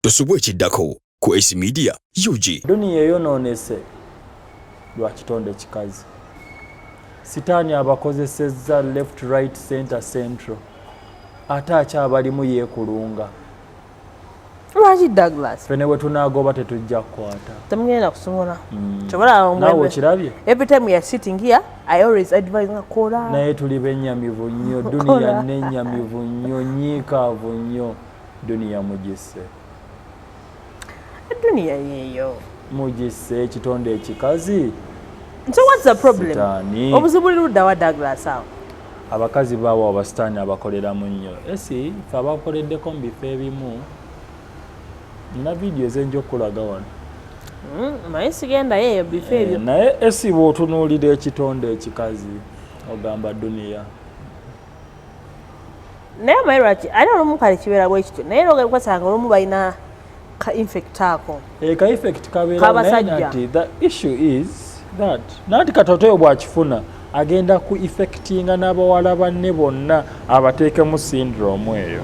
tosubwa ekiddako ku Ace Media UG. Duniya eyonoonese lwa kitonde kikazi. Sitaani abakozesezza left right center central ate akyabalimu yeekulunga. Lwaki Douglas? Fene bwe tunaagoba tetujja kukwata. Temugenda kusobola. Mm. Kyobalaba omwembe. Nawe okirabye? Every time we are sitting here, I always advise nga kola. Naye tuli bennyamivu nnyo, duniya nennyamivu nnyo, nyiikaavu nnyo. duniya mugisse duniya yeeyo mugisse ekitonde ekikazi so whats the problem obuzibu liruddawa douglas awo abakazi baawo abasitaani abakoleramu nnyo esi fe abakoleddeko mu bifo ebimu nina vidiyo ezenja okukulaga wano hmm, naye sigendayo eyo bifo eh, ebyo naye esi bwotunuulira ekitonde ekikazi ogamba duniya naye omanyi lwaki ate olumu kale kibeera bwe kityo naye era ogasanga olumu balina ka infect ako eh, ka infect kabeerakabasajja the issue is that nanti katoto oyo bwakifuna agenda ku effectinga n'abawala banne bonna abateekemu syndrome eyo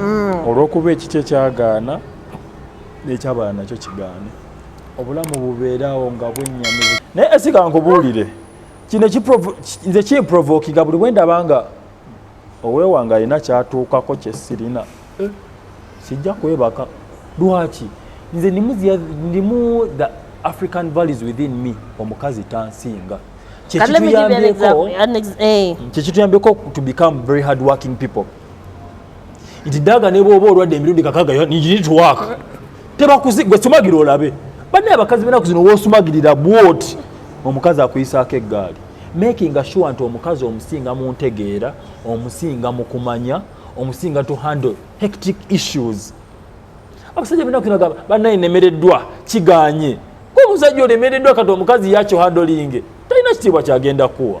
mm. olw'okuba ekiki ekyagaana nekyabala nakyo kigaane obulamu bubeeraawo nga bwennyamizi naye esikankubuulire kino nze kimprovokinga buli bwendaba nga owewanga alina kyatuukako kyesirina eh. sijja kwebaka lwaki nze ndimu the african values within me omukazi tansinga kyekituyambeko eh. to become very hard working people nti daga ne bwoba olwadde emirundi kakaga you need to work tebakuzi gwe sumagira olabe banne abakazi benaku zino wosumagirira bwoti omukazi akuyisaako eggaali making sure nti omukazi omusinga mu ntegeera omusinga mu kumanya omusinga to handle hectic issues abasajja benaku zino gamba bannaye nemereddwa kiganye omusajja olemereddwa kati omukazi yakyo handolinge talina kitiibwa kyagenda kuwa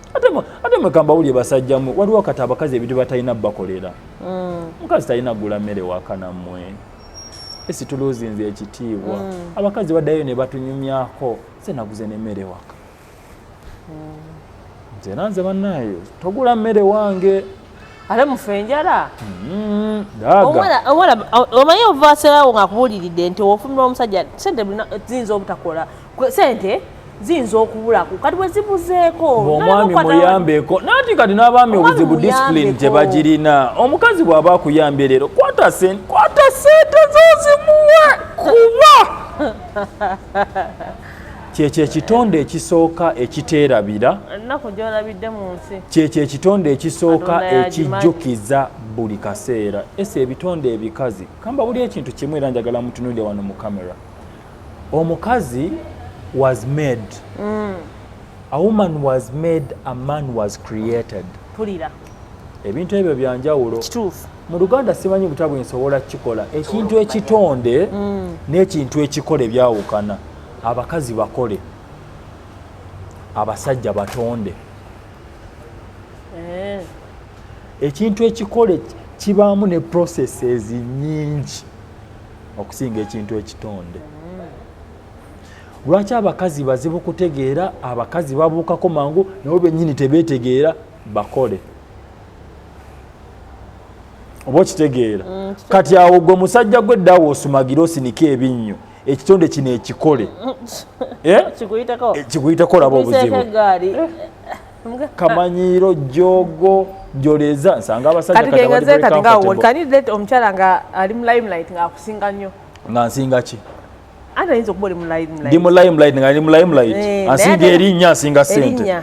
ate mwekamba wulye basajjamu waliwo kati abakazi ebintu batalina bakolera mm. mukazi talina gula mmere wakanamwe esituluzinze ekitiibwa mm. abakazi baddayo ne batunyumyako se naguze nemmere waka mm. nze nanze bannaayo togula mmere wange ate mufe enjala mm, omanyi ovaserawo nga akubuliridde nti ofumira omusajja sente ziyinza obutakola sente ziyinza okubulaku kati bwezibuzeeko omwami muyambeko nati kati n'abaami obuzibu disipulini tebagirina omukazi bw'aba akuyambye leero kwata sente zozimuwe kuba kyekyo ekitonde ekisooka ekiteerabira kyekyo ekitonde ekisooka ekijjukiza buli kaseera ese ebitonde ebikazi kamba buli ekintu kimu era njagala mutunulire wano mu kamera omukazi was made mm. a woman was made a man was created pulira ebintu ebyo byanjawulo kituufu mu luganda simanyi buta bwensobola kukikola ekintu ekitonde mm. n'ekintu ekikola ebyawukana abakazi bakole abasajja batonde eh. ekintu ekikole kibaamu ne processes nyingi okusinga ekintu ekitonde mm. lwaki abakazi bazibu kutegeera abakazi babuukako mangu nabo bennyini tebeetegeera bakole oba okitegeera mm, kati awo gwe musajja gwe ddawo osumagira osinike ebinnyo ekitonde kino ekikole eh? kikuyitako eh, laba obuzibu eh, kamanyiiro jogo njoleza nsanga abasajjakati nga omukyala nga ali mu limelight nga akusinga nnyo nga nsinga ki Ate ayinza okuba oli mu limelight. Ndi mu limelight nga ndi mu limelight. Eh, ansinga erinnya ansinga sente.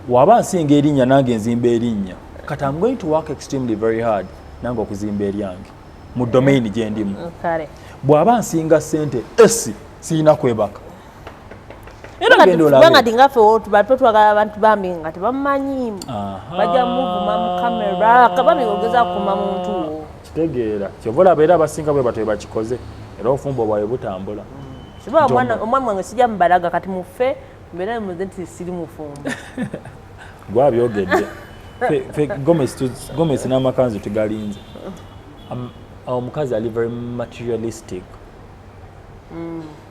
Waba ansinga erinnya nange nzimba erinnya. Kat I'm going to work extremely very hard nange okuzimba eryange mu domain gye ndimu. Bw'aba ansinga sente esi sirina kwebaka. kubanga tingaffe tubato twagala abantu bambi nga tebamanyi bajja muvuma mu kamera kabambi ogeza kukuma muntu kitegeera kyova olaba era abasinga bwe batwe bakikoze era obufumbo bwawe butambula kiba omwana wange sijja mubalaga kati mufe mbeera muze nti siri mufumbo gwabyogedde gomesi n'amakanzu tugalinze um, omukazi ali very materialistic mm.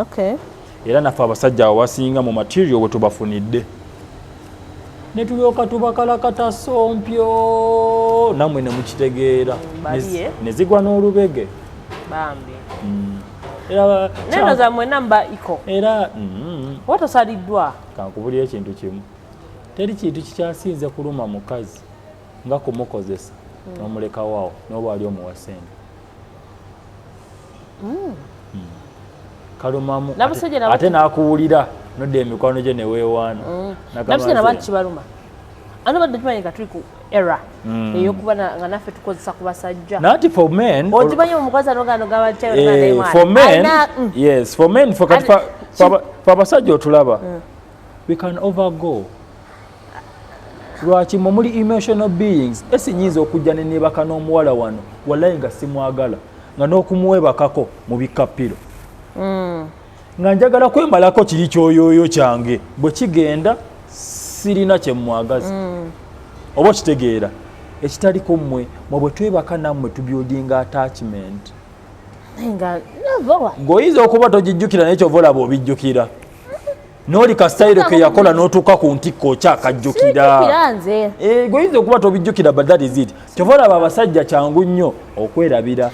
okay. era naffe abasajja awo wasinga mu material wetubafunidde netulyoka tubakalakata sompyo namwe nemukitegeera nezigwa n'olubege bambi mm. era neno zamwe namba iko era mm. watasaliddwa kankubulira ekintu kimu teri kintu kikyasinze kuluma mukazi nga kumukozesa mm. nomulekawawo noba ali omuwa sente hmm. Hmm. kalumamu ate nakuwulira nodda emikwano gye newewaana hmm. nabusajja nabantu kibaluma ano badde tumanyi nga tuli ku era mm. eyokuba nga naffe tukozesa ku basajja nati for men okimanyi omukazi anoganogabakyafor eh, men mm. yes for men fe abasajja otulaba mm. we can overgo lwaki mwe muli emotional beings esi nyinza okujja ne nebaka n'omuwala wano walayi nga simwagala nga n'okumuwebakako mu bikappiro mm. nga njagala kwemalako kiri kyoyooyo kyange bwe kigenda sirina kyemwagaza mm. oba okitegeera ekitaliko mmwe mwe bwe twebaka nammwe tubyodinga attachment ng'oyinza okuba togijjukira naye kyova olaba obijjukira noli kasitayiro ke yakola n'otuuka ku ntikko okyakajjukira eh, goyinza okuba tobijjukira but that is it kyova olaba abasajja kyangu nnyo okwerabira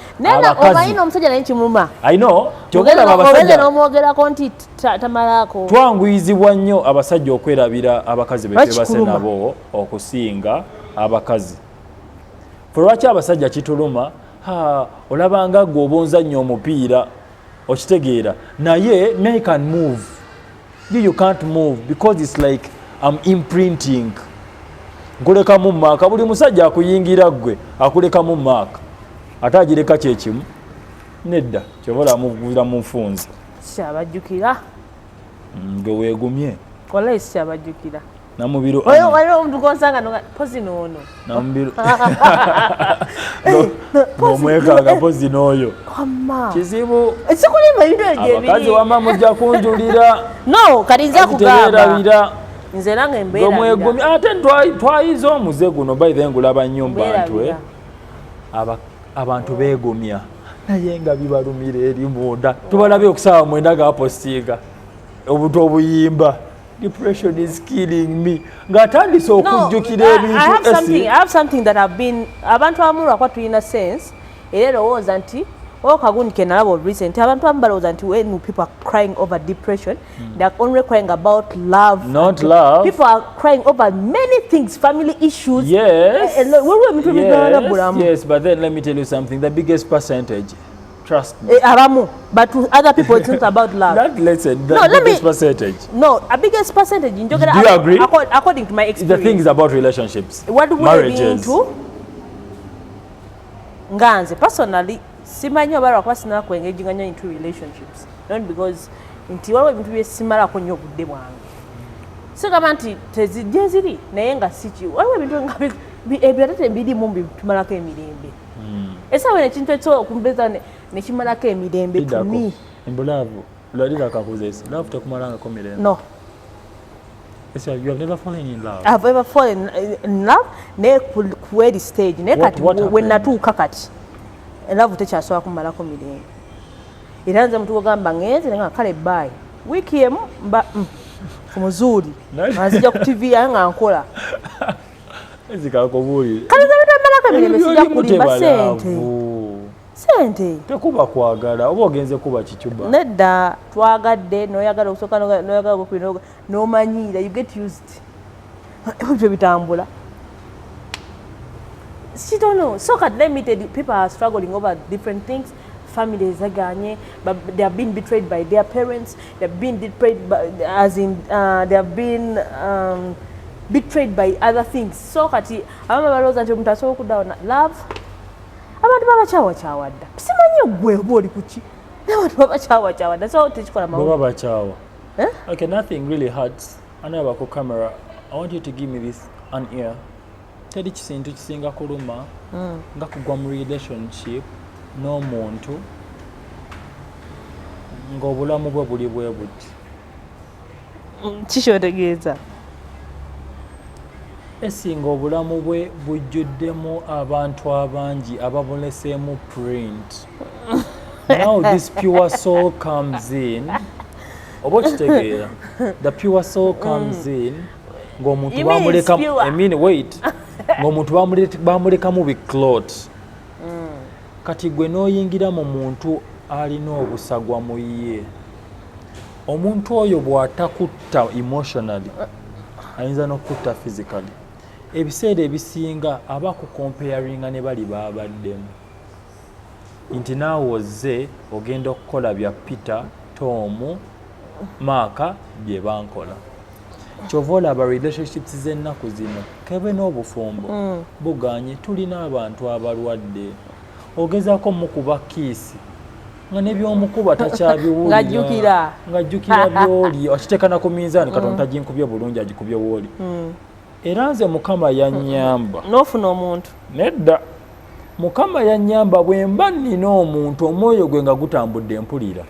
twanguyizibwa nnyo abasajja okwerabira abakazi betebase nabo okusinga abakazi fe lwaki abasajja kituluma olabanga gwe obunza nnyo omupiira okitegeera naye me can move you, you can't move because it's like am imprinting nkulekamu maaka buli musajja akuyingira ggwe akulekamu maaka ate agireka kyekimu nedda kyova olamuvira mu nfunza kyabajjukira mm, nge weegumye kola esi kyabajjukira Namubiru Oyo Anne. waliwo omuntu gwonsanga no nga pozi n'ono. Namubiru. Nomwekanga pozi n'oyo. Wamma. Kizibu. Ekikulimba ebintu ebyo gye biri. Abakazi wamma mujja kunjulira. No, kati nja kugamba. Tebeerabira. Nze nange mbeerabira. Nomwegumya ate twayize omuze guno by the way ngulaba nnyo mu bantu eh. Abantu beegumya naye nga bibalumira eri munda. Tubalabye okusaawa mwenda gaapositinga obuntu obuyimba. depression is killing me ngatandise okujjukira ebintuabantu abamu lwakuba tulina sense era erowooza nti o kagundi kenalaba olulise nti abantu abamu balowooza nti when people are crying over depression mm. they are only crying about love not love people are crying over many things family issues yes eh, eh, waliwo ebintu ebigaana bulamu yes but then let me tell you something the biggest percentage Trust me. Eh, abamu, but to other people it's not about love. Not less than no, the biggest me, percentage. No, a biggest percentage. Do you agree? According, according to my experience. The thing is about relationships. What do we marriages. mean to? Nganze, personally, simanyi oba lwakuba sinala kuengaginga nnyo into relationships not because nti waliwo ebintu byesimalako nnyo obudde bwange sigamba nti tezijje ziri naye nga siki waliwo ebintu ebyo ate tebirimu bitumalako emirembe hmm. esawa eno ekintu ekyo okumbeza nekimalako emirembe tumi embulavu lwali lakakuzaesi love tekumalangako mirembe no Yes, you have never fallen in love. I've ever fallen in love ne kweli stage ne kati when natuuka kati love tekyasobola kumalako mirembe era nze mutu ogamba ngenze nga kale bye wiiki emu mba mm, ku muzuuli anzija ku tv yange nga nkola sente tekuba kwagala oba ogenze kuba kicuba nedda twagadde noyagala okusooka noyagala okubinoga nomanyiira you get used ebyo bitambula kitono so kati limited people are struggling over different things family zaganye they have been betrayed by their parents they have been betrayed by, as in uh, they have been um, betrayed by other things so kati abama balowooza nti omuntu asobola okuddawo na love abantu babakyawakyawa dda simanyi ogwe oba oli kuki nabantu babakyawakyawa dda so tekikola mababa bakyawa eh? okay nothing really hurts anabako camera i want you to give me this an ear teri kisintu kisinga kuluma mm. nga kugwa mu relationship n'omuntu ng'obulamu bwe buli bwe buti mm, kikyotegeeza esinga obulamu bwe bujjuddemu abantu abangi ababuleseemu print now this pure soul comes in oba okitegeera the pure soul comes mm. in ng'omuntu bamulekamu biclot mm. kati gwe n'oyingira mu muntu alina obusagwa mu ye omuntu oyo bw'atakutta emotionally ayinza n'okukutta physically ebiseera ebisinga aba ku comparinga ne bali baabaddemu nti naawe ozze ogenda okukola bya peter tomu maaka bye bankola kyova olaba relationships z'ennaku zino kebe n'obufumbo mm. buganye tulina abantu abalwadde ogezaako mukuba kiisi nga nebyomukuba takyabiwulirangajjukira ngajjukira byoli akitekana ku minzaani katonda mm. taginkubye bulungi agikubye wooli mm. era nze mukama yanyamba nofuna omuntu nedda mukama yanyamba bwemba nina omuntu omwoyo gwe nga gutambudde mpulira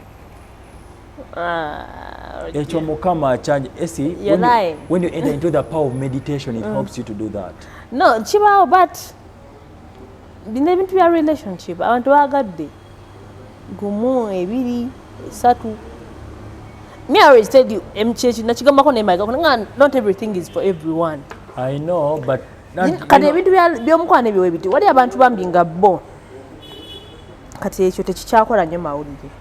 Ah, ekyo mukama akyanje esi when you, when you enter into the power of meditation it mm. helps you to do that no kibaawo but bino ebintu bya relationship abantu bagadde gumu ebiri esatu me i always tell you mkyechi nakigambako naye mayiga nga not everything is for everyone i know but kati ebintu byomukwano ebyo webiti wali abantu bambi nga bo kati ekyo tekikyakola nnyo mawulire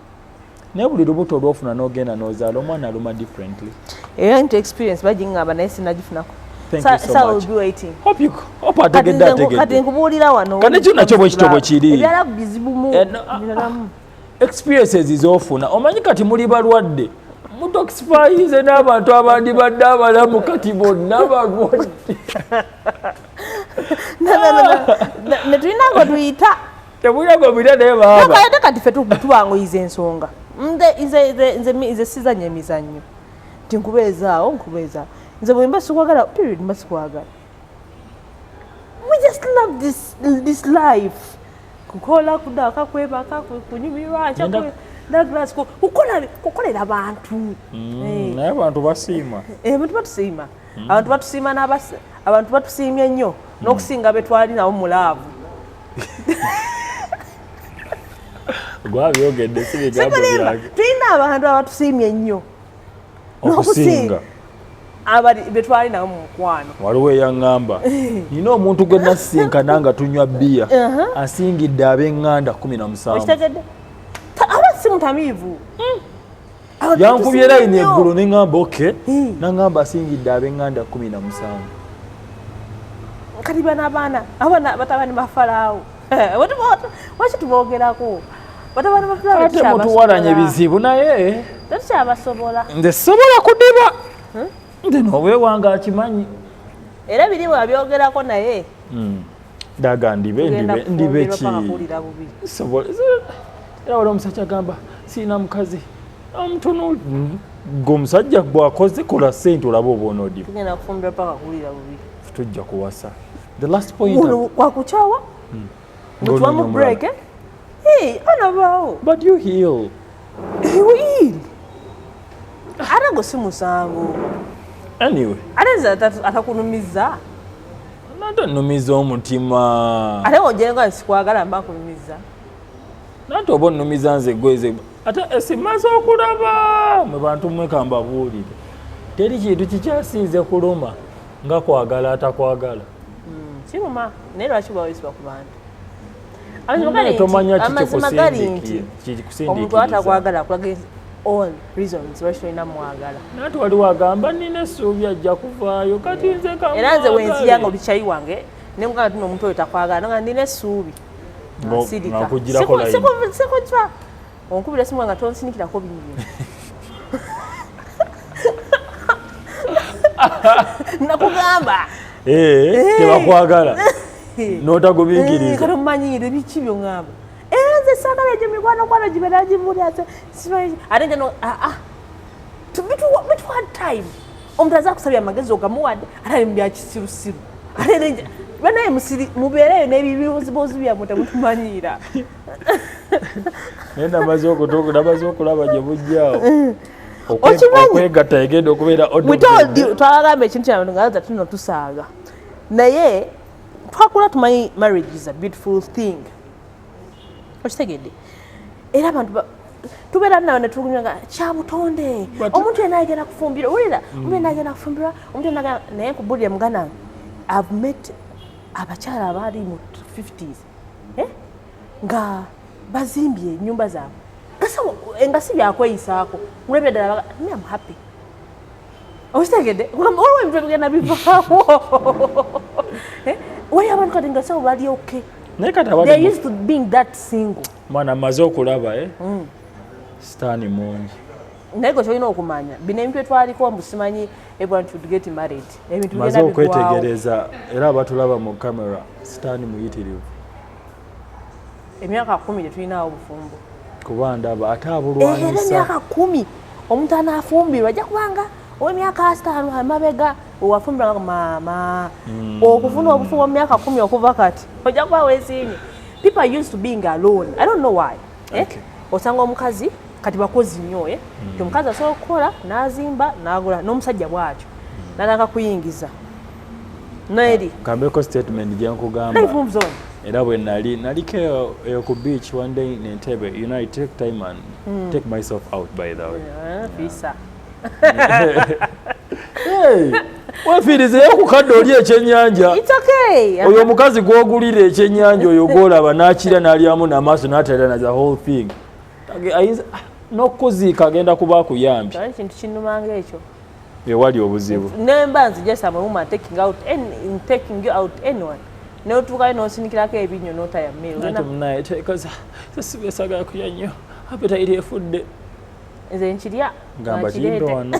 naye buli lubuto olwofuna nogenda nozaala omwana aluma differently era nti experience bagingamba naye sinagifunako kati nkubuulira wanokanekyo bwekityo bwekiri ebyala bizibumu eh, ah, ah. experiences zofuna omanyi kati muli balwadde mutoxifyize n'abantu abandi badde abalamu kati bonna balwadde netulina ngo tuyita tebuyaga obira naye baaba kati fe tubanguyiza ensonga nze sizanya emizannyo nti nkubeezaawo nkubeezaawo nze bwemba sikwagala period mba sikwagala we just love this, this life kukola kudaka kwebaka kunyumirwa kukolera bantu mm, eh. naye abantu basiima eh, abantu batusiima mm. abantu batusiima n'abasi abantu batusiimye nnyo mm. n'okusinga be twali nabo mu laavu gwabyogedde si bigambo byange tulina abantu abatusiimye nnyo n'okusinga abali betwali nawe mumukwano waliwo eyaŋŋamba nina omuntu gwe nasisinkana nga tunywa bbiya uh-huh. asingidde ab'eŋŋanda kumi na musanvu aba si mutamiivu hmm. yankubye layini eggulo ne ŋŋamba oke naŋŋamba asingidde ab'eŋŋanda kumi na musanvu kati bana abaana abaana batabani bafalaawo waki tuboogerako batabani bafalaawotemutuwalanya ebizibu naye tetukyabasobola nze sobola kudiba hmm? nze noobwewanga akimanyi era birimu abyogerako naye hmm. daga ndibe ndibe ndibe ki sobola era wala omusajja agamba sirina mukazi amutuno gwomusajja bwakoze kola sente olaba obwonoodiba tujja kuwasa the last point wakukyawa hmm. mutuwamu break eh? hey, anabaawo but you heal heal ate gwe si musango anyway ate nze atakunumizza Nanto nnumiza omutima. Ate ng'ogyeko sikwagala mba kunumiza. Nanto oba onnumiza nze gweze ate esimaze eh, okulaba mwe bantu mmwe kambabuulire teri kintu kikyasinze kuluma nga kwagala atakwagala. Hmm, kiruma naye lwaki bawezibwa ku bantu? amazima gali nti omuntu atakwagala akulaga all reasons lwaki tolina mwagala naye tewali wagamba nina essuubi ajja kuvaayo kati nze era nze wenziya nga obikyayi wange nemugamba tino omuntu oyo takwagala nga nina essuubi sikujwa Onkubira simu nga tonsinikirako biibyo. Nakugamba. Eh, eh. tebakwagala. Eh. N'otagubikiriza. Eh, kati omumanyiire biki byongamba. Eh, nze saagala egyo mikwano kwano gibeera gimuli ate simanyi. Ate nja no ah ah. Bitwa time. Omuntu aza kusabya amagezi ogamuwadde ate ali mu bya kisirusiru. Ate nja banaye musiri mubeereyo n'ebibuuzibuuzi byammwe temutumanyiira. naye namaze okutuuka namaze okulaba gye bujjaawo mm. okwegatta egenda okubeera twalagamba ekintu kyano nga aza tuno tusaaga naye twakula tumanyi marriage is a beautiful thing okitegedde era abantu tubeera nawe netugunya nga kyabutonde omuntu yena agenda kufumbirwa wulira mm. omuntu yena agenda kufumbirwa omuntu yena naye nkubulire mugana i've met abakyala abaali mu 50s eh? nga bazimbye enyumba zaabwe nga eh, si byakweyisaako mulabye ddala me am happy okitegedde olwo ebintu ebigenda bivaawo eh? waliyo abantu kati nga sabo bali okay naye kati they used to being that single mwana maze okulaba eh mm. sitani mungi naye gwe kyolina okumanya bino ebintu etwaliko mbu simanyi everyone should get married ebintu maze okwetegereza era abatulaba mu camera sitaani muyitirivu emyaka kumi tetulinaawo bufumbo kuba ndaba ate abulwanyisa era emyaka kumi omuntu anaafumbirwa ajja kubanga owemyaka asitaano amabega owafumbirwa maama hmm. okufuna obufumbo mu myaka kumi okuva kati ojja kuba weesiimye people used to being alone i don't know why eh? okay. eh? osanga omukazi kati bakozi nnyo eh? mm. omukazi asobola okukola n'azimba n'agula n'omusajja bwatyo mm. natandika kuyingiza noeri kambeko statement gyenkugamba era bwe nali naliko eyo ku beach one day in Entebbe you know I take time and mm. take myself out by the way yeah, fisa hey. wefiiriza eyo ku kadde oli ekyennyanja oyo omukazi gw'ogulira ekyennyanja oyo gw'olaba n'akira n'alyamu n'amaaso n'atalana the whole thing n'okukuziika agenda kuba akuyambye kintu kinumanga ekyo ewali obuzibu nemba nze just am a woman taking out any, taking you out anyone notuukayo nosinikirako ebinyo notaya mealnaye tekaza sesibesagala kulya nnyo apeta iri efudde nze nkirya gamba kimbe wano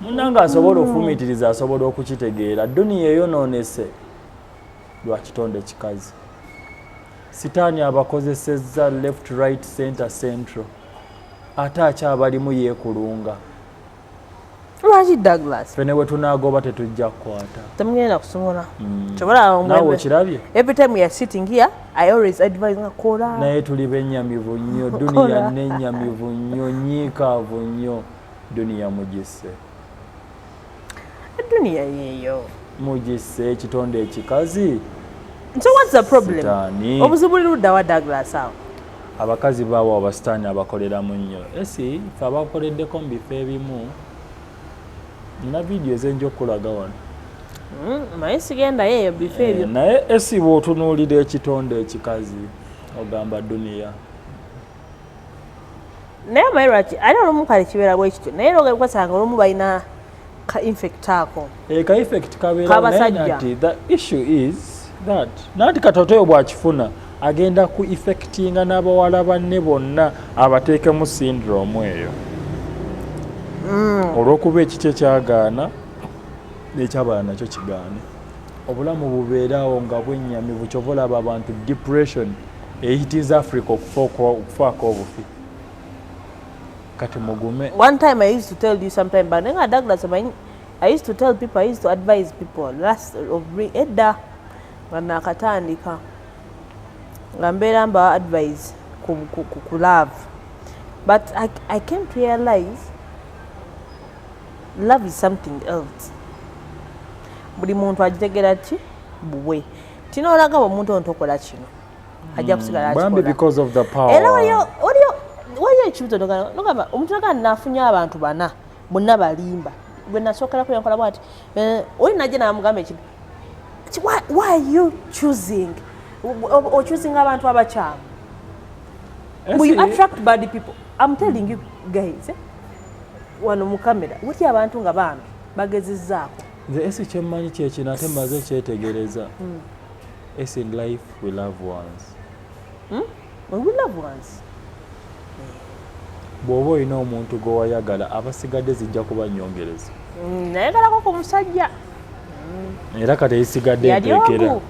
munange asobola ofumitiriza asobola okukitegeera duniya eyonoonese lwa kitonde kikazi sitaani abakozesezza left right center central ate akyabalimu yeekulunga lwaki douglas fene bwe tunaagoba tetujja kukwata temugenda kusobola mm. kyobalaba nawe okirabye every time we are sitting here I always advise nga kola. Naye tuli benyamivu nnyo, dunia nenyamivu nnyo, nyiikaavu nnyo, dunia mugisse. Dunia yeeyo. Mugisse ekitonde ekikazi. So what's the problem? Sitani. Obuzibu lirudda wa Douglas awo? Abakazi bawa abasitaani abakoleramu nnyo. Esi fe abakoleddeko mu bifo ebimu nina vidiyo ezenja okukulaga wano mm, naye sigendayo eyo bifo eh, ebyo naye esiba otunuulira ekitonde ekikazi ogamba duniya naye maye lwaki ali olumu kale kibeera bwe kityo naye nogasanga olumu balina ka infect ako eh, ka infect kabeera naye nati the issue is that nanti katotoyo bwakifuna agenda ku effectinga n'abawala banne bonna abateekemu syndrome eyo mm. olw'okuba ekiti ekyagaana n'ekyabala nakyo kigaane obulamu bubeerawo nga bwennyamivu kyova olaba abantu depression ehitinza africa okufaako obufi kati mugume one time i used to tell you sometime but nenga douglas i used to tell people i used to advise people last of edda nga nakatandika nga mbeera mbawa advise ku, ku, ku, ku love but I, I came to realize love is something else buli muntu agitegera ki bubwe tina olaga bwe omuntu ono tokola kino ajja kusigala hmm, bambi because of the power era waliyo waliyo waliyo ekibuzo nogamba omuntu nagana nafunye abantu bana bonna balimba gwe nasookerako yankola bwati eh, oli najja namugamba ekibi why, why are you choosing ochoosing abantu abakyamu mbu you attract bad people i'm telling you guys eh? wano mu kamera wutya abantu nga bambi bagezezaako nze esi kyemmanyi kyekino ate maze kyetegereza hmm. es in life we love ones hmm? bw'oba olina omuntu gwe wayagala abasigadde zijja kuba nyongereza mm, nayagalako ku musajja mm. era kati eyisigadde entekera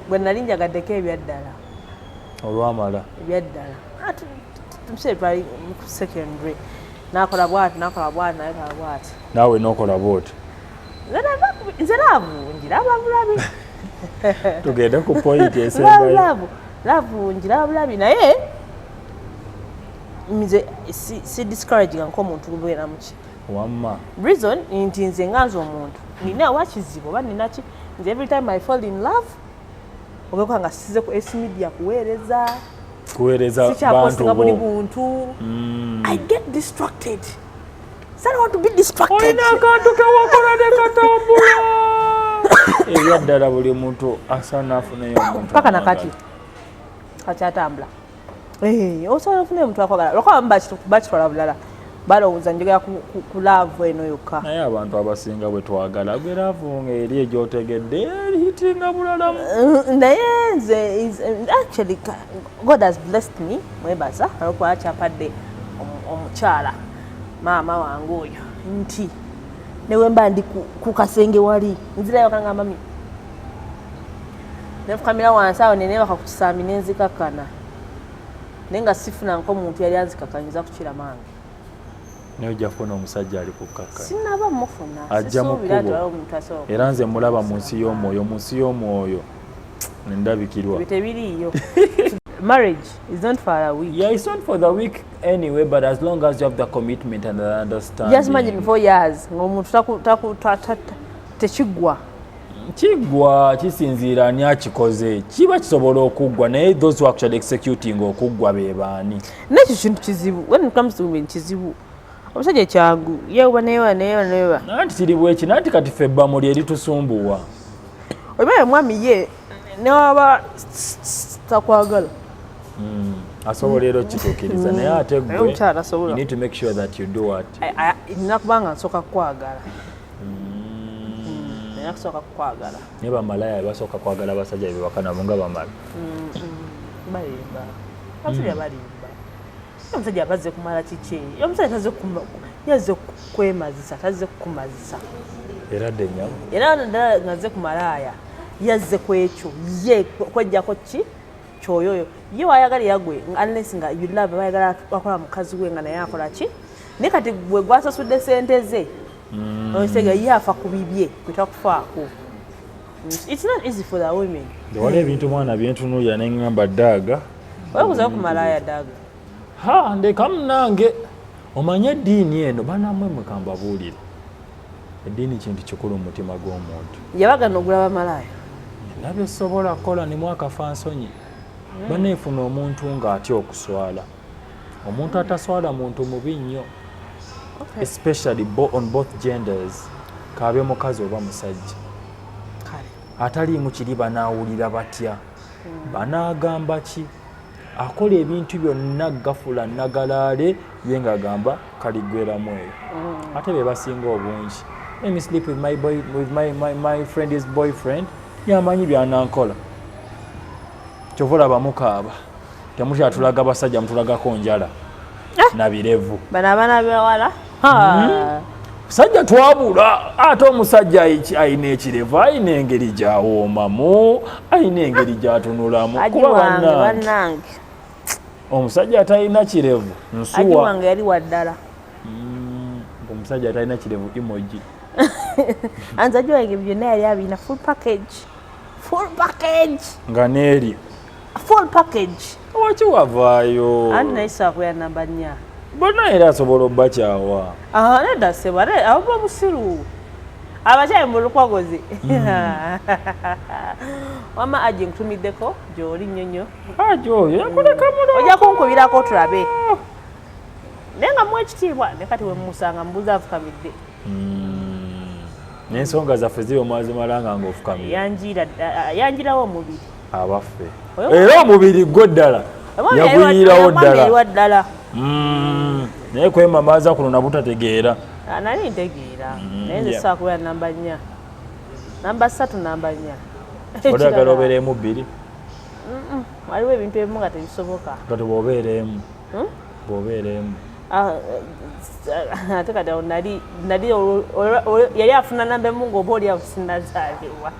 gwe nali njagaddeko ebyaddala olwamala ebyaddala ah, tumusebali secondary nakola bwati nakola bwati nakola bwati naawe nokola bwoti nze laavu ngiraba bulabi tugende ku point esembayo laavu ngiraba bulabi naye nze si discourage nga nkomuntu lubeera muki wamma reason nti nze nga nze omuntu nina wakizibu oba ninaki nze every time i fall in love ogakuba nga size ku s media kuweereza kuweereza sikyakosinga buli buntu mm. i get distracted olina akantu kewakola nekatambula ebya ddala buli muntu asaana afuneyo mpaka nakati kakyatambula osobola ofuna omuntu akwagala lwakuba bamu bakitwala bulala balowooza njogera ku laavu eno yokka naye abantu abasinga bwe twagala gwe laavu nga eri egyotegedde erihitinga bulalamu eh, naye nze actually god has blessed me mwebaza olwokuba kyampadde omukyala maama wange oyo nti newemba ndi ku kasenge wali nzirayo kanga mami nefukamira wansi awo nenebaka ku kisambi nenzikakkana naye nga sifuna nko omuntu yali anzikakanyiza kukira maange naye ojja kufuna omusajja ali kukakkasinaba mufuna ajja mukubo era nze mulaba mu nsi y'omwoyo mu nsi y'omwoyo ndabikirwa tebiriiyo marriage is not for a week yeah it's not for the week anyway but as long as you have the commitment and the understanding just imagine four years ngomuntu taku taku tekigwa kigwa kisinziira ani akikoze kiba kisobola okuggwa naye those who actually executing okuggwa be baani nekyo kintu kizibu when it comes to women kizibu omusajja kyangu yewa newa newa newa nanti kiri bweki nanti kati ffe bamuli eritusumbuwa oba ye mwami ye newaba takwagala hmm. asobola era okituukiriza hmm. naye ate gwenina kubanga nsooka kukwagala hmm. nina kusooka kukwagala naye bamalaya basooka kwagala abasajja bebakanabo nga bamala balimba batulya balimba omusajja aba azze kumala kiki omusajja tazze yazze kukwemazisa tazze kukumazisa era dde nyabo era naddala ngazze ku malaaya yazze ku ekyo ye kwejjako ki kyoyo oyo ye wayagala yagwe unless nga you love bayagala akola mukazi we nga naye akola ki naye kati gwe gwasasudde sente ze mm. osega ye afa ku bibye kwetakufaako It's not easy for the women. Wali ebintu mwana byentunuulira ne ngamba daaga. Weebuuza ku malaaya daaga. Ha ndeka munange omanye eddiini eno banamwe mukamba buulire. Eddiini kintu kikulu mu mutima gw'omuntu. Yabagana ogula bamalaaya. Nabyo sobola kukola ne mwaka fa nsonyi. Hmm. Baneefuna omuntu ng'atya okuswala. omuntu ataswala muntu mubi nnyo especially on both genders kaabe mukazi oba musajja ataliimu kiri banaawulira batya hmm. banaagamba ki akola ebintu byonna gafula nagalaale ye ngaagamba kaligweramu eyo hmm. ate be basinga obungi emi sleep with my, boy, with my, my, my friend is boyfriend yamanyi byanankola kyova olaba mukaaba temukyatulaga basajja mutulagako njala eh! nabirevu bano abaana bewala hmm? sajja twabula ate omusajja ayina ekirevu ayina engeri gyawoomamu ayina engeri gyatunulamu kuba banange omusajja atalina kirevu nsuwange yali waddala hmm, omusajja atalina kirevu emoji anzajiwange byonna yali abina full package full package nga neeri full package waki wavaayo anti naye sakuya namba nya bona era asobola obakyawa ah, nedda sebo ate abuba busiru abakyayi mu lukwagozi hmm. wama aji nkutumiddeko gyoli nnyo nnyo aji oyo yakulekamulo ojja kunkubirako tulabe naye nga mu ekitiibwa ne kati wemumusanga mubuza afukamidde mm. nensonga zaffe ziri omwazimalanga nga ofukamyanjirawo omubiri abaffe era omubiri gwo ddala yaguyirawo ddala mm. naye kwemamaaza kuno nabutategeera ah, nali ntegeera mm, naye nzisakubera namba nnya namba satu namba nnya odagala obereemu bbiri waliwo ebintu ebimu nga tebisoboka kati bwobeereemu hmm? bwobeereemu Ah, eh, ate kati awo nali nali yali afuna namba emu ngaoba oli awo sinazaalibwa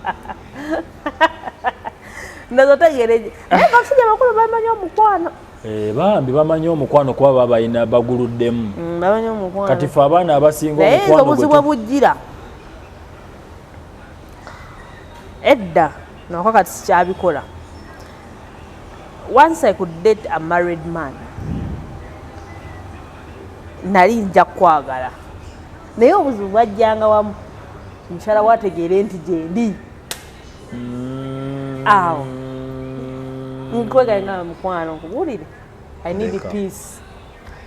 nazo tegereje naye basajja bakulu bamanyi omukwano Eh, bambi bamanyi omukwano kuba babalina baguluddemu mm, kati fe abaana abasinga omukwano bujjira edda nako kati sikyabikola Once I could date a married man nali nja kwagala naye obuzibu bwajjanga wamu mukyala wategeere nti gyendi mm. awo nkwegalinga mukwano nkubuulire i need peace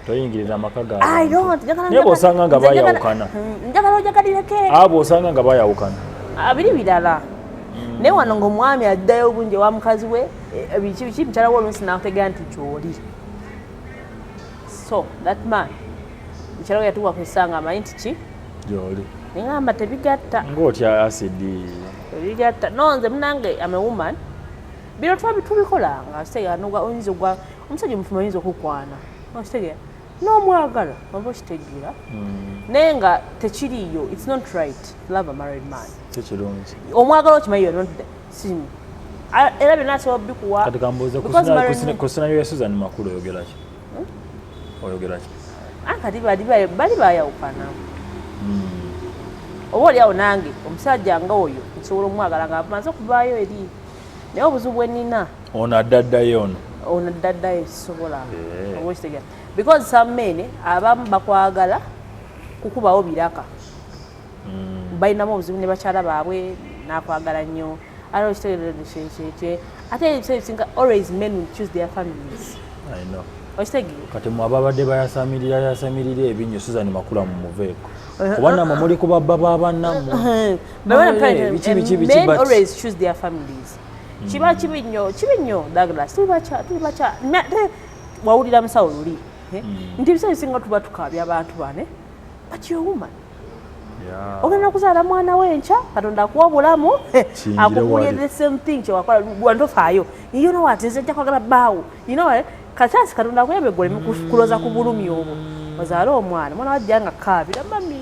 toyingirira amaka gaabwe osanga nga bayawukana hmm, njagala ojagalireko abo osanga nga bayawukana abiri ah, birala hmm. naye wano ngaomwami addayo obungi ewa mukazi we eh, biki biki mukyala we oluusi nakutegera nti kyoli so that man mukyala we yatuwa kusanga amanyi nti ki gyoli nengamba tebigatta ngaotya asidi tebigatta nonze munange am a woman bino tuba tubikolanga seyanoga oyinza ogwa omusajja omufumbo ayinza okukwana okitegeera n'omwagala oba okitegeera hmm. naye nga tekiriiyo its not right love a married man tekirungi omwagala okimanyi yo simu era byonna asobola bikuwa kati kambuuze ku sinayo ya susan makulu oyogeraki hmm? oyogeraki ah, kati bali bayawukana hmm. oba oli awo nange omusajja nga oyo nsobola omwagala nga amaze okuvaayo eri naye obuzibu bwenina ono addaddayo ono ono addaddayo ekisobola eh. oba okitegera because some men abamu bakwagala kukubawo biraka hmm. balinamu obuzibu ne bakyala baabwe nakwagala nnyo ate okitegereekyekye ate ebiseera ebisinga always men will choose their families okitegeera kati mwe ababadde bayasamirira yasamirira ebinyo suzani makula mu muveeko uh-huh. kuba namwe muli ku babba ba bannammwe uh-huh. biki biki biki mm. kiba kibi nnyo kibi nnyo Douglas tuli bakya tuli bakya ate wawulira musawo luli eh? mm. nti ebiseera ebisinga tuba tukaabya abantu bane but your woman ogenda kuzaala mwana we enkya katonda akuwa obulamu akugulire the same thing kyewakola wantofaayo iyo nowati nze nja kwagala baawo inowa kakyasi katonda akuyambe gwe oleme kuloza ku bulumi obwo ozaale omwana mwana wajja nga kaabira mami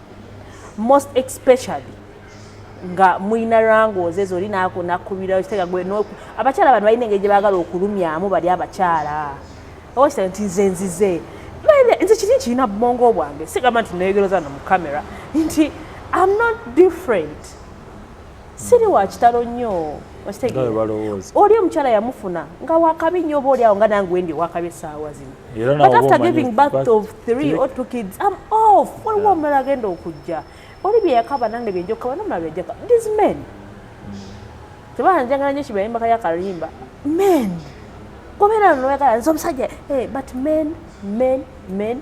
most especially nga mulina rangooze zoli nakunakkubirayo kitega gwe abakyala bano balina engeri gye baagala okulumyamu bali abakyala owakita nti nze nzize nze kiri kirina bubongo bwange sigamba nti neyogereza no mu camera nti am not different siri wa kitalo nnyo oli omukyala yamufuna nga wakabi nnyo oba oliawo nga nange wendi wakabi esaawa zino but after giving birth of three or two kids am off waliwo omulala agenda okujja oli byeyakaba nange byenja okukaba nomulala byenjaka these men tebanjagala nyo kibayimba kaya kalimba men kubeera noyagala nze omusajja eh, but men men men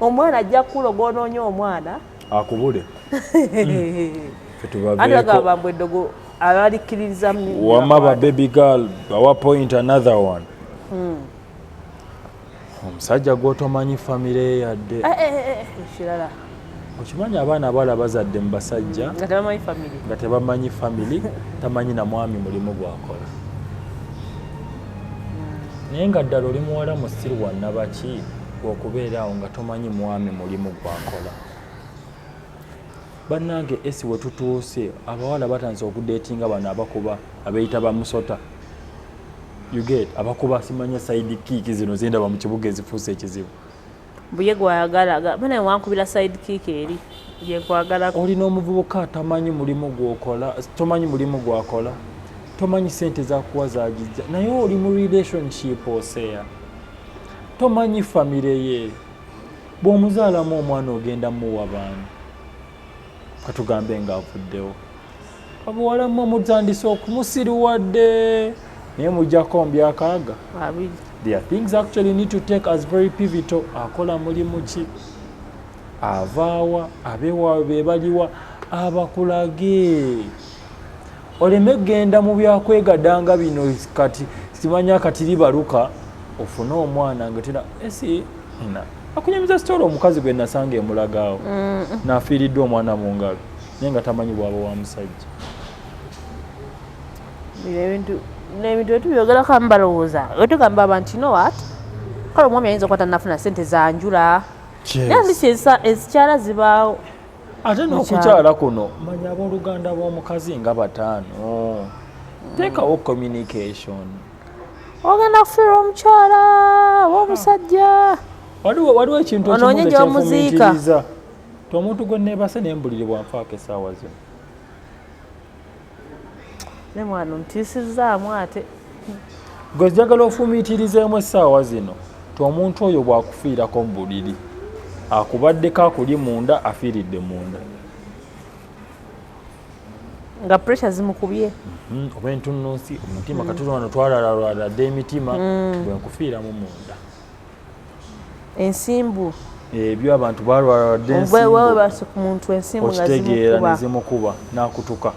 omwana ajja kukula gwonoonye omwana akubule andagabambwe eddogo abalikkiririza wama ba baby girl bawa point another one hmm. omusajja gwotomanyi famire yadde eh, eh, eh, kirala okimanyi abaana abawala bazadde mu basajja nga tebamanyi family tamanyi na mwami mulimu gwakola hmm. naye nga ddala oli muwala musiru wanabaki gwe okubeera awo nga tomanyi mwami mulimu gwakola bannange esi we tutuuse abawala batandise okudeetinga bano abakuba abeeyita bamusota uget abakuba simanya saidi kiiki zino zendaba mu kibuga ezifuusa ekizibu buye gwayagala bana wankubira saidi kiiki eri gyekwagala olina omuvubuka atamanyi mulimu gwokola tomanyi mulimu gwakola tomanyi sente zakuwa zagijja naye oli mu relationship oseya tomanyi famire ye bw'omuzaalamu omwana ogenda muwa baani katugambe ng'avuddewo abuwala mwe mutandise okumusiriwadde naye mujjako mbyakaaga there are things actually need to take as very pivotal akola mulimu ki avaawa abewaawe bebaliwa abakulage oleme genda mu byakwegadanga bino kati simanya kati libaluka ofune omwana ngetera esi na akunyamiza sitoola omukazi gwe nasanga emulagaawo mm. nafiiriddwa omwana mu ngalo naye nga tamanyi bwaba wa musajja ebintu nebintu etu byogerako amubalowooza wetugamba abantu you know what kale omwami ayinza okuba tanafuna sente zanjula naye ndisi ezikyala zibaawo ate n'okukyala kuno manya abooluganda b'omukazi nga bataano teekawo communication ogenda kufiirwa omukyala oba omusajja waliwo ekintu onoonye gyomuziika omuntu gwe neebase nembulirebwa nfaako esaawa zino ne mwana ontiisizzaamu ate gwe njagala ofumiitirizeemu essaawa zino ti omuntu oyo bw'akufiirako mu buliri akubaddeko akuli munda afiiridde munda nga pressure zimukubye mhm, oba entunnunsi omutima mm. katuti wano twalalalwala dda emitima mm. bwenkufiiramu munda ensimbu ebyo abantu balwaladde ensimbumuntu ensimbu okitegeera nezimukuba nakutuka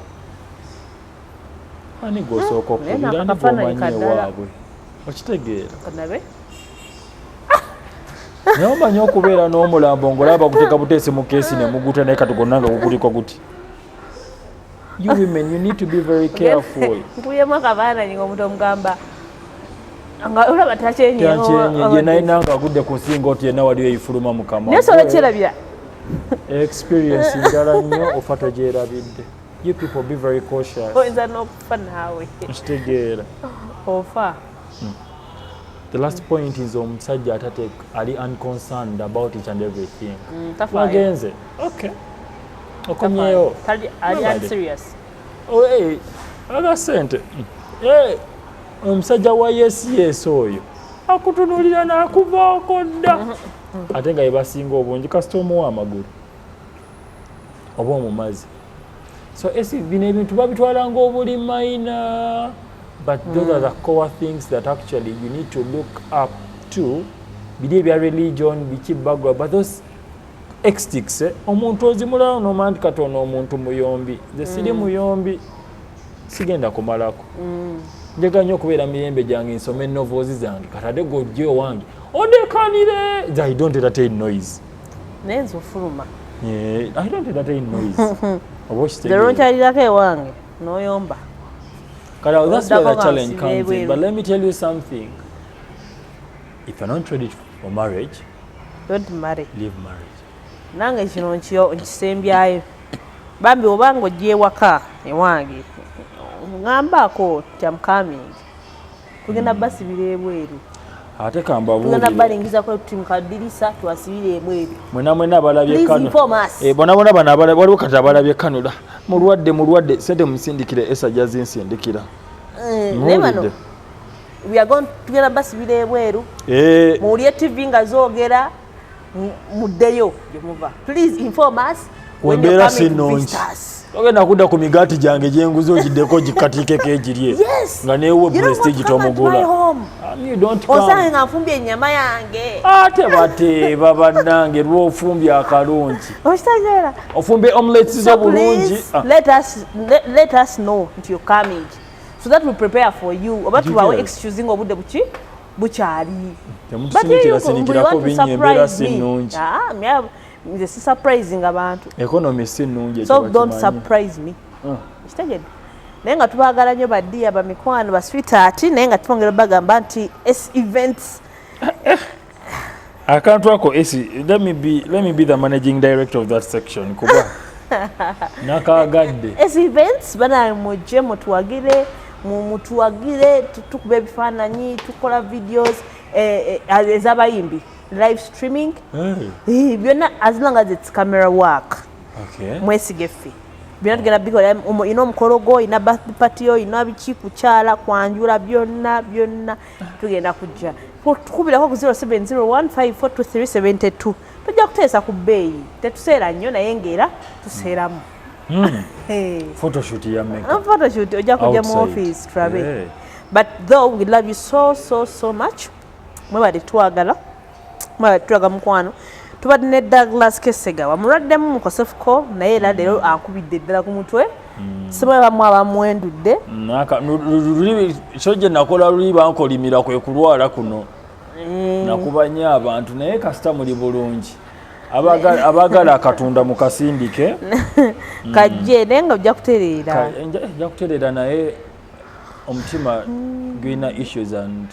ani gwosooka hmm, okubira ni gwomanyi ewaabwe okitegeera naye omanyi okubeera n'omulambo ngaolaba baguteka buteesi mu keesi nemuguta naye kati gonna nga gukuliko guti you women you need to be very careful mpuyemu akabaana nyinga omuntu omugamba nga olaba takyenyeyenye naye nanga agudde ku nsinga oti yenna waliwo eyifuluma mukama naye sola kyerabira experience njala nnyo ofa togyerabidde you people be very cautious oyinza n'okufa naawe nkitegeera ofa hmm. the last point is omusajja atate ali unconcerned about each and everything mm, wagenze okay okomyewo kali ali ali serious oye aga sente eh omusajja wa yes yes oyo akutunulira nakuvaako dda mm-hmm. ate nga yebasinga obungi kasita omuwa amagulu oba omumazi so esi bino ebintu babitwala ngaobuli maina but those are the mm. core things that actually you need to look up to biri ebya religion biki bagwa but those extix eh? omuntu ozimulawo nomandi katona omuntu muyombi nze siri mm. muyombi sigenda kumalako mm. njagala nyo okubeera mirembe gyange nsome enovoozi zange katade gojja owange odekanire i don't entertain noise naye nze ofuluma i don't entertain noise oba okitegeeronkyalirako ewange noyomba kati that's where the challenge comes in but let me tell you something If you're not ready for marriage, don't marry. Leave marriage. Nange kino nkisembyayo bambi oba nga ojja ewaka ewange ngambaako nti amcoming tugenda hmm. basibira ebweru ate kambabuulire balingiza kwa timu kadirisa twasibire emweru mwena mwena balabye kano eh bona bona bana balabye waliwo kata balabye kano da mulwadde mulwadde sente musindikire esa jazi nsindikira eh nebano tugenda basibira ebweru eh. muwulire tv nga zogera muddeyo gyemuva please inform us wembeera sinungi ogenda kudda ku migaati gyange gyenguzi ogiddeko gikatiikeko egirye nga neewo prestige tomugula osange nga nfumbye ennyama yange ate bateeba bannange lwofumbye akalungi okitegeera ofumbye omulets zo bulungi ah. let us know nti okamigi so that we prepare for you oba tubawo excuse nga obudde buki bukyali nze si surprising abantu economy si nnungi so don't surprise me ah. kitegedde naye nga tubagala nnyo badiya bamikwano baswitaati naye nga twongera bagamba nti s events akantu ako esi let me be, let me be the managing director of that section kuba nakagadde esi events banaye mujje mutuwagire mutuwagire tukuba ebifaananyi tukola videos eh, eh, ezabayimbi live streaming eh. byonna as long as its camera work mwesige ffe byonna tugenda bikola ina omukolo gwo ina birthday party yo ina biki kukyala kwanjula byonna byonna tugenda kujja tukubirako ku 0701542372 tujja kuteesa ku bbeeyi tetuseera nnyo naye ngaera tuseeramu hmm. photoshoot ya meka uh, photoshoot ojja kujja mu office trabe but though we love you so so so much mwebale twagala tulaga mukwano tubadde ne douglas kesega wamulwaddemu mukosefuko naye era leero mm. akubidde eddala ku mutwe mm. siba bamu abamwendudde kyo gye nakola luli bankolimira kwe kulwala kuno eh. nakuba nnyo abantu naye kasita muli bulungi abagala akatunda mukasindike kajje naye nga ojja kutereera ojja kutereera naye omutima gulina issues and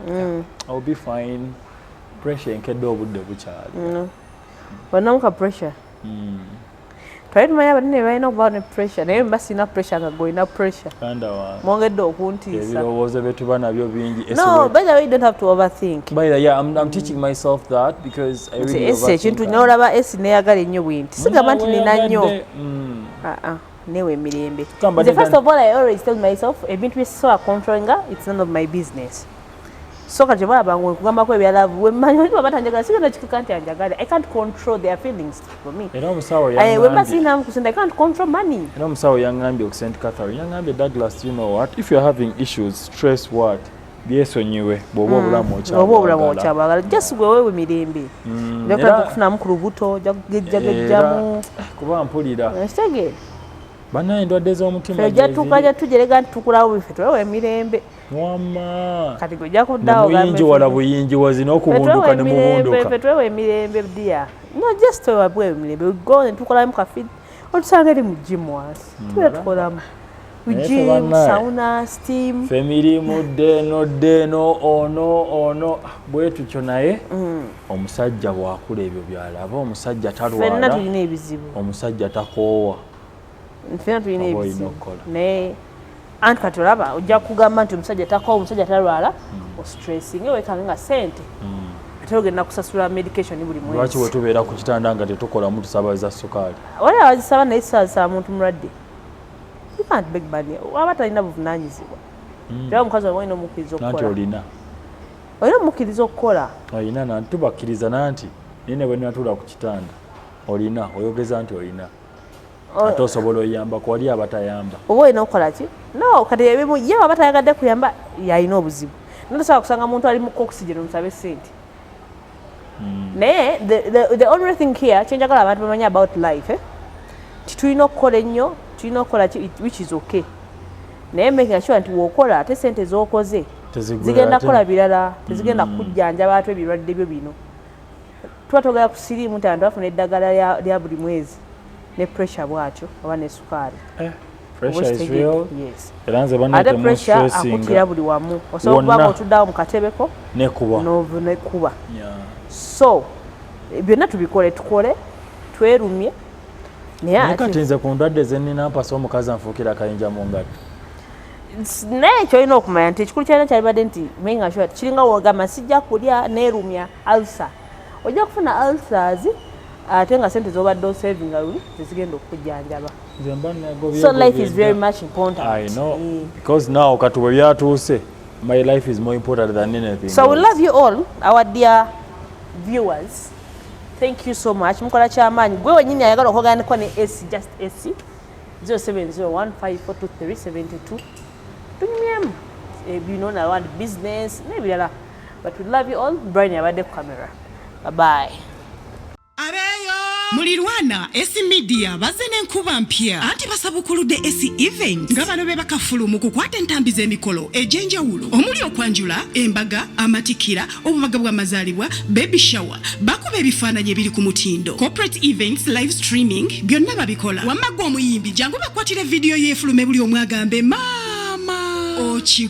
mm. I'll be fine pressure enkedde obudde bukyali mm. banamu ka pressure mm. twali tumanyi abanene balina okuba ne pressure naye mba sirina pressure nga golina pressure mwongedde okuntiisaebirowoozo byetuba nabyo bingi ekintu nolaba esi neyagala ennyo bwinti sigamba nti nina nnyo mm. ah, ah. newe emirembe nze first of all i always tell myself ebintu byesobola controllinga its none of my business so kati bwaba nga nkugambako ebyalavu wemmanyi oli baba tanjagala sigenda kituka nti anjagala i can't control their feelings for me era omusawo eh, wemba sirinamu kusente i can't control money era omusawo yangambye okusent catherine yangambye douglas you know what if you're having issues stress what byesonyiwe bwoba mm. obulamu okyabwagala bwoba obulamu okyabwagala just gwe wewe mirembe mm, era kukufunamu ku lubuto jagejjagejjamu eh, kuba mpulira ekitege banaye endwadde z'omutima ejja tuka ja tujerega nti tukulawo bife twewe emirembe wama kati gwe ojja kuddawo muyingi wala buyingi wazina okubunduka ne mubunduka fe twewe emirembe dia no just twewe bwewe emirembe we go ne tukolamu kafidi otusanga eri mu jimu wansi mm. tubeera tukolamu femirimu ddeeno ddeeno ono ono bwe tutyo naye mm. omusajja bwakula ebyo byalaba omusajja talwala omusajja takoowa fena tulina ebizibu naye anti kati olaba ojja kugamba nti omusajja takowa omusajja talwala hmm. ostressinge wekange nga sente hmm. ate ogenda kusasula medication buli mwezi lwaki wetubeera ku kitanda nga tetukolamu tusaba za sukaali wali abazisaba naye sisabasaba muntu mulwadde ukant beg money waba talina buvunanyizibwa hmm. era omukazi waba olina omukkiriza okukola olina olina omukkiriza okukola olina nanti tubakkiriza nanti naye nebwenatula ku kitanda olina oyogeza nti olina oh. ate osobola oyamba kuwali abatayamba oba olina okukola ki no kati ebimu ye waba tayagadde kuyamba yalina obuzibu notosobola kusanga muntu ali mukokusigeno musabe sente hmm. naye the only thing here kyenjagala abantu bamanya about life eh? titulina okukola ennyo tulina okukola which is okay naye making sure nti wokola ate sente zokoze zigenda kukola birala tezigenda mm. kujjanjaba ate ebirwadde byo bino tuba togera ku siriimu nti antu afuna eddagala lya buli mwezi ne pressure bwatyo oba ne sukaali eh, ate pressure akutira buli wamu osobola okubanga otuddawo mu katebeko nekuba so byonna tubikole tukole twerumye naye kati nze ku ndwadde zenina mpasa omukazi anfuukira akayinja mu ngalo naye kyolina okumanya nti ekikulu kyalina kyalibadde nti menga kiringa wogamba sijja kulya nerumya Ulcer. Ojja kufuna ulcers ate nga sente zobadde osavinga luli zezigenda okukujjanjaba so life is very much important I know mm. because now kati bwe byatuuse my life is more important than anything so we love you all our dear viewers thank you so much mukola kyamaanyi gwe wenyini ayagala okuganiko ne ac just ac 0701542372 tunyumyemu ebino eh, nalwandi business n'ebirala but we love you all brian yabadde ku camera bye bye mulirwana esi media bazze n'enkuba mpya anti basabukuludde esi event nga bano be bakafulu mu kukwata entambi z'emikolo egy'enjawulo omuli okwanjula embaga amatikira obubaga bw'amazaalibwa baby shower bakuba ebifaananyi ebiri ku mutindo corporate events live streaming byonna babikola wamma gwe omuyimbi jangu bakwatire vidiyo y'efulume buli omwagambe maama oki